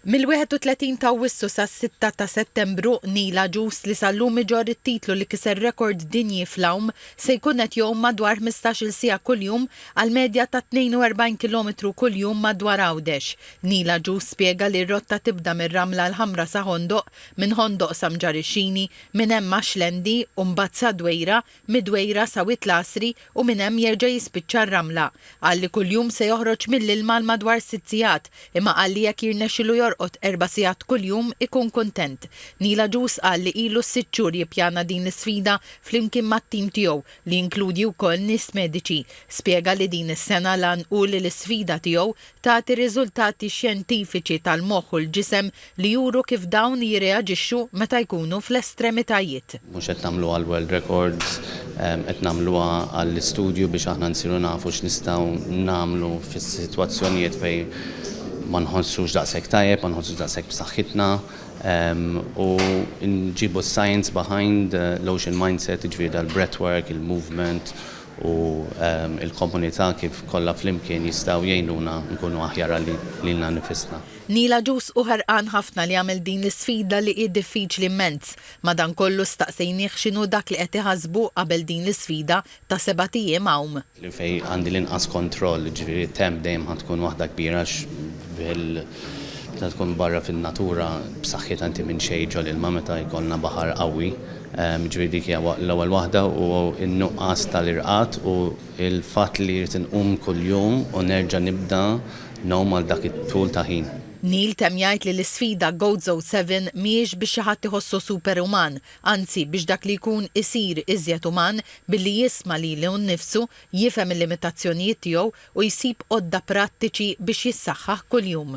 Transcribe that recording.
Mill-31 ta' Awwissu sas-sitta ta' Settembru, Neil Agius, li sal-lum iġorr it-titlu li kiser rekord dinji fl-għum, se jkun qed jgħum madwar ħmistax-il siegħa kuljum għal medja ta' 42 kilometru kuljum madwar Għawdex. Neil Agius spjega li r-rotta tibda mir-Ramla l-Ħamra sa Ħondoq, minn Ħondoq sa Mġarixxini, minn hemm ma' Xlendi u mbagħad sa Dwejra, mid-Dwejra sa Wied l-Għasri u minn hemm jerġa' jispiċċa r-ramla. Qal li kuljum se joħroġ mill-ilma għal madwar sitt sigħat, imma qal li jekk jirnexxilu jorqod erba' sigħat kuljum ikun kuntent. Neil Agius qal li ilu s-sitt xhur jippjana din l-isfida flimkien mat-tim tiegħu li jinkludi wkoll nies mediċi. Spjega li din is-sena l-għan hu li l-isfida tiegħu tagħti riżultati xjentifiċi tal-moħħ u l-ġisem li juru kif dawn jirreaġixxu meta jkunu fl-estremitajiet. Mhux qed nagħmluha għall-world records, qed nagħmluha għall-istudju biex aħna nsiru nafu x'nistgħu nagħmlu fis-sitwazzjonijiet fejn ma nħossux daqshekk tajjeb, ma nħossux daqshekk b'saħħitna u nġibu s-science behind l-ocean mindset, jiġifieri dal-breathwork, il-movement u l-komunità kif kollha flimkien jistgħu jgħinuna nkunu aħjar għal lilna nnifisna. Neil Agius hu ħerqan ħafna li jagħmel din l-isfida li hi diffiċli mmenz. Madankollu staqsejnieh x'inhu dak li qed iħassbu qabel din l-isfida ta' sebat ijiem għawm. Li fejn għandi l-inqas kontroll, ġifieri t-temp dejjem ħa tkun waħda kbira għax bil meta tkun barra fin-natura b'saħħitha inti minn xejn ġol-ilma meta jkollna baħar qawwi Jiġifieri dik hija l-ewwel waħda u n-nuqqas tal-irqad u l-fatt li jrid inqum kuljum u nerġa' nibda ngħum għal dak it-tul ta' ħin. Neil temm jgħid li l-isfida Goats O' Seven mhijiex biex xi ħadd iħossu superuman, anzi biex dak li jkun isir iżjed uman billi jisma' lilu nnifsu, jifhem il-limitazzjonijiet tiegħu u jsib għodda prattiċi biex jissaħħaħ kuljum.